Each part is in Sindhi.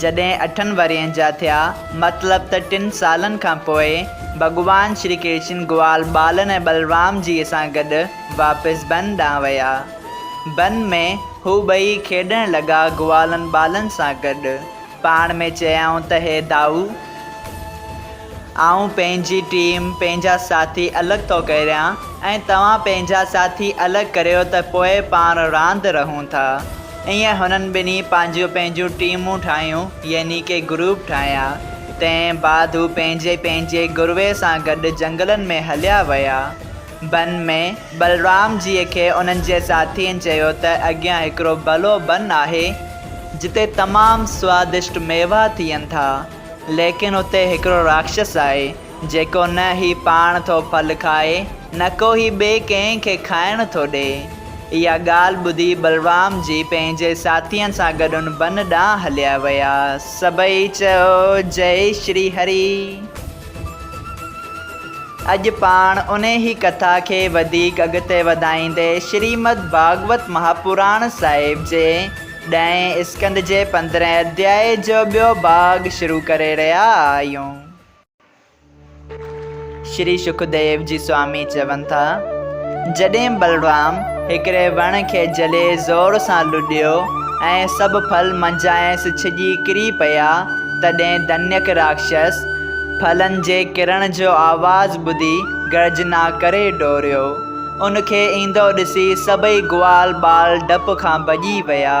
جڏهن اٺن ورهين جا ٿيا، مطلب ته ٽن سالن کان پوء، ڀڳوان شري ڪرشن گوال ٻالن ۽ ٻلرام جيء سان گڏ واپس بن ڏانهن ويا. بن ۾ هو ٻئي کيڏڻ لڳا گوالن ٻالن سان گڏ. پاڻ ۾ چيائون ته هي دائو! آئون پنهنجي ٽيم، پنهنجا ساٿي الڳ ٿو ڪريان ۽ توهان پنهنجا ساٿي الڳ ڪريو ته پوء پاڻ راند رهون ٿا. ائين هنن ٻنهي پنهنجيون پنهنجيون ٽيمون ٺاهيون يعني ڪي گروپ ٺاهيا. تنهن بعد هو پنهنجي پنهنجي گروي سان گڏ جنگلن ۾ هليا ويا. بن ۾، بلرام جيء کي انهن جي ساٿين چيو ته اڳيان هڪڙو ڀلو بن آهي، جتي تمام سوادشٽ ميوا ٿين ٿا، ليڪن اتي هڪڙو راڪشس آهي، جيڪو نه هي پاڻ ٿو ڦل کائي، نڪو هي ٻئي ڪنهن کي کائڻ ٿو ڏئي. اها ڳالهه ٻڌي بلرام جي پنهنجي ساٿين سان گڏ ان بن ڏانهن هليا ويا. سڀئي چيو جئي شري هري. اڄ پاڻ انهي ڪٿا کي وڌيڪ اڳتي وڌائيندي شريمد ڀاڳوت مهاپراڻ صاحب جي ڏهين اسڪنڌ جي پندرهين اڌيائي جو ٻيو ڀاڳ شروع ڪري رهيا آهيون. شري شڪديو جي سوامي چون ٿا، جڏهن بلرام هڪڙي وڻ کي جهلي زور سان لڏيو ۽ سڀ ڦل منجهانئس ڇڄي ڪري پيا، تڏهن دنيڪ راڪشس ڦلن جي ڪرڻ جو آواز ٻڌي گرجنا ڪري ڊوڙيو. ان کي ايندو ڏسي سڀئي گوال ٻال ڊپ کان ڀڄي ويا.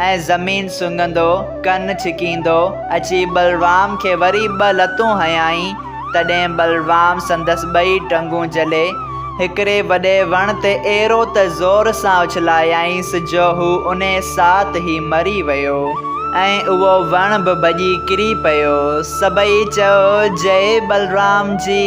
۽ زمين سنگهندو ڪن ڇڪيندو اچي بلرام کي وري ٻه لتون هنيائين، تڏهن بلرام سندس ٻئي ٽنگون جهلي، هڪڙي وڏي وڻ تي اهڙو ته زور سان اڇلايائينس جو هو انهي ساعت ئي مري ويو ۽ اهو وڻ به ڀڄي ڪري پيو. سڀئي چيو جئي بلرام جي.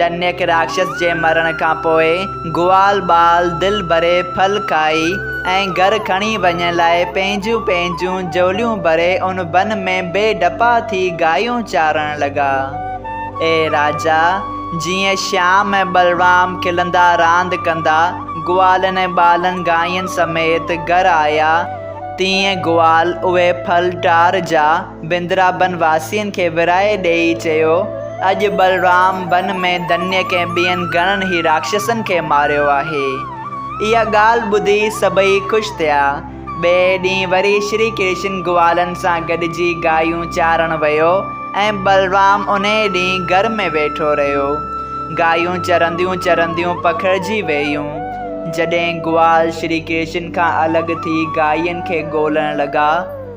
دنيڪ راڪشس جي مرڻ کان پوء گوال ٻال دل ڀري ڦل کائي ۽ گهر کڻي وڃڻ لاء پنهنجون پنهنجون جهوليون ڀري ان بن ۾ بي ڊپا ٿي گايون چارڻ لڳا. اي راجا! جيئن شيام ۽ ٻلرام کلندا راند ڪندا گوالن ۽ ٻالن گاين سميت گهر آيا، تيئن گوال اهي ڦل ٽار جا، بندرابن واسين کي ورهائي ڏيئي چيو، اڄ بلرام بن ۾ ڌنيء ڪنهن ٻين گهڻن ئي راڪشسن کي ماريو آهي. اها ڳالهه ٻڌي سڀئي خوش ٿيا. ٻئي ڏينهن وري شري ڪرشن گوالن سان گڏجي گايون چارڻ ويو ۽ بلرام انهيء ڏينهن گهر ۾ ويٺو رهيو. گايون چرنديون چرنديون پکڙجي وييون. جڏهن گوال شري ڪرشن کان الڳ ٿي گاين کي ڳولڻ لڳا،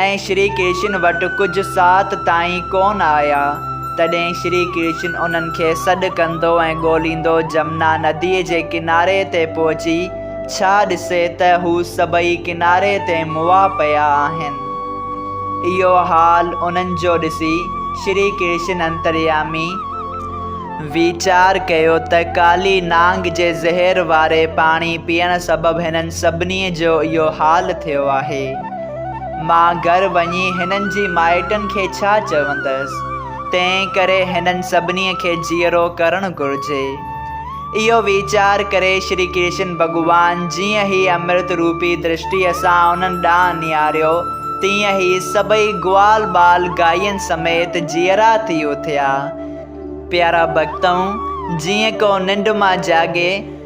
۽ شري ڪرشن وٽ ڪجهه ساعت تائين ڪونه آيا، تڏهن شري ڪرشن انهن کي سڏ ڪندو ۽ ڳوليندو جمنا نديء جي ڪناري تي پهچي ڇا ڏسي ته هو سڀئي ڪناري تي مئا پيا آهن. اهو حال انهن جو ڏسي شري ڪرشن انتريامي ويچار ڪيو ته ڪالي نانگ جي زهر واري پاڻي پيئڻ سبب هنن سڀني جو اهو حال ٿيو آهي. مان گهر وڃي هنن جي مائٽن کي ڇا چوندس؟ تنهن ڪري هنن سڀنيء کي جيئرو ڪرڻ گهرجي. اهو ويچار ڪري شري ڪرشن ڀڳوان جيئن هي امرت روپي درشٽيء سان انهن ڏانهن نهاريو، تيئن هي سڀئي گوال ٻال گائين سميت جيئرا ٿي اٿيا. پيارا ڀڳتؤ! جيئن ڪو ننڊ مان جاڳي،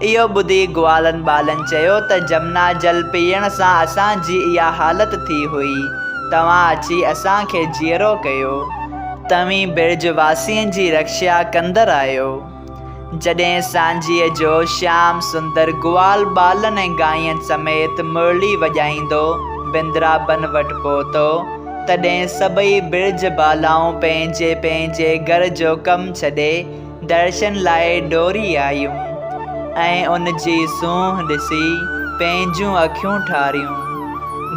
اهو ٻڌي گوالن ٻالن چيو ته جمنا جل پيئڻ سان اسان جي اها حالت ٿي هئي، توهان اچي اسان کي جيئرو ڪيو. توهين برج واسين جي رڪشا ڪندر آهيو. جڏهن سانجهيء جو شيام سندر گوال ٻالن ۽ گاين سميت مرلي وڄائيندو بندرابن وٽ پهتو، تڏهن سڀئي برج بالائون پنهنجي پنهنجي گهر جو ڪم ڇڏي، درشن لاء ڊوڙي آيون ۽ ان جي سونهن ڏسي پنهنجون اکيون ٺاريون.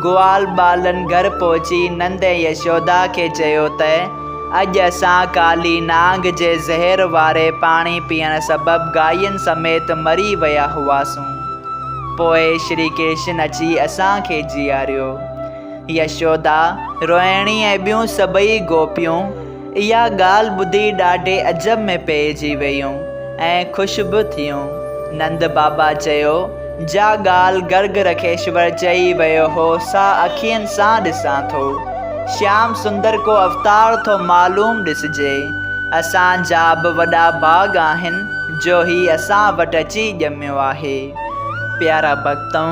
گوال ٻالن گهر پهچي نند ۽ يشودا کي چيو ته اڄ اسان ڪالي نانگ جي زهر واري پاڻي پيئڻ سبب گاين سميت مري ويا هئاسون. پوء شري ڪرشن اچي اسان کي جياريو. يشودا، روهڻي ۽ ٻيون سڀئي گوپيون، اها ڳالهه ٻڌي ڏاڍي عجب ۾ پئجي ويون ۽ خوش به ٿيون. نند بابا چيو، جا ڳالهه گرگ رکيشور چئي ويو هو سا اکين سان ڏسان ٿو. شيام سندر ڪو اوتار ٿو معلوم ڏسجي. اسان جا به وڏا ڀاڳ آهن جو هي اسان وٽ اچي ڄميو آهي. پيارا ڀڳتؤ!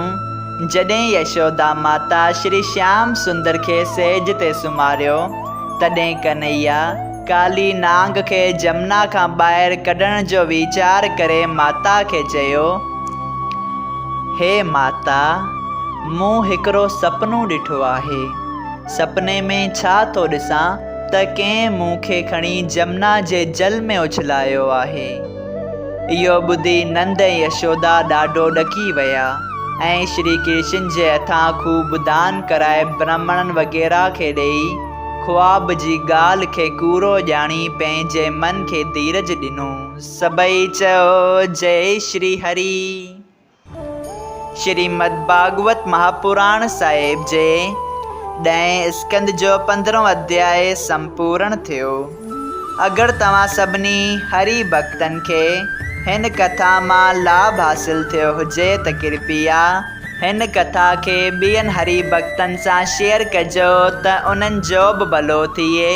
جڏهن يشودا ماتا شري شيام سندر کي سيج تي سمهاريو، تڏهن ڪنهيا ڪالي نانگ کي جمنا کان ٻاهر ڪڍڻ جو ويچار ڪري ماتا کي چيو، هي ماتا! مون هڪڙو سپنو ڏٺو آهي. سپني ۾ ڇا ٿو ڏسان ته ڪنهن مون کي کڻي جمنا جي جل ۾ اڇلايو آهي. اهو ٻڌي نند ۽ يشودا ڏاڍو ڏڪي ويا ۽ شري ڪرشن جي هٿان خوب دان ڪرائي برهمڻن وغيره کي ڏيئي خواب جي ڳالهه کي ڪوڙو ڄاڻي پنهنجي من کي ڌيرج ڏنو. سڀئي چيو جئي شري هري. شريمد ڀاڳوت مهاپراڻ صاحب جي ڏهين اسڪنڌ جو پندرهون اڌياء سمپورڻ ٿيو. اگر توهان سڀني هري ڀڳتن کي هن ڪٿا مان لاڀ حاصل ٿيو هجي ته ڪرپيا هن ڪٿا کي ٻين هري ڀڳتن سان شيئر ڪجو ته انهن جو به ڀلو ٿئي.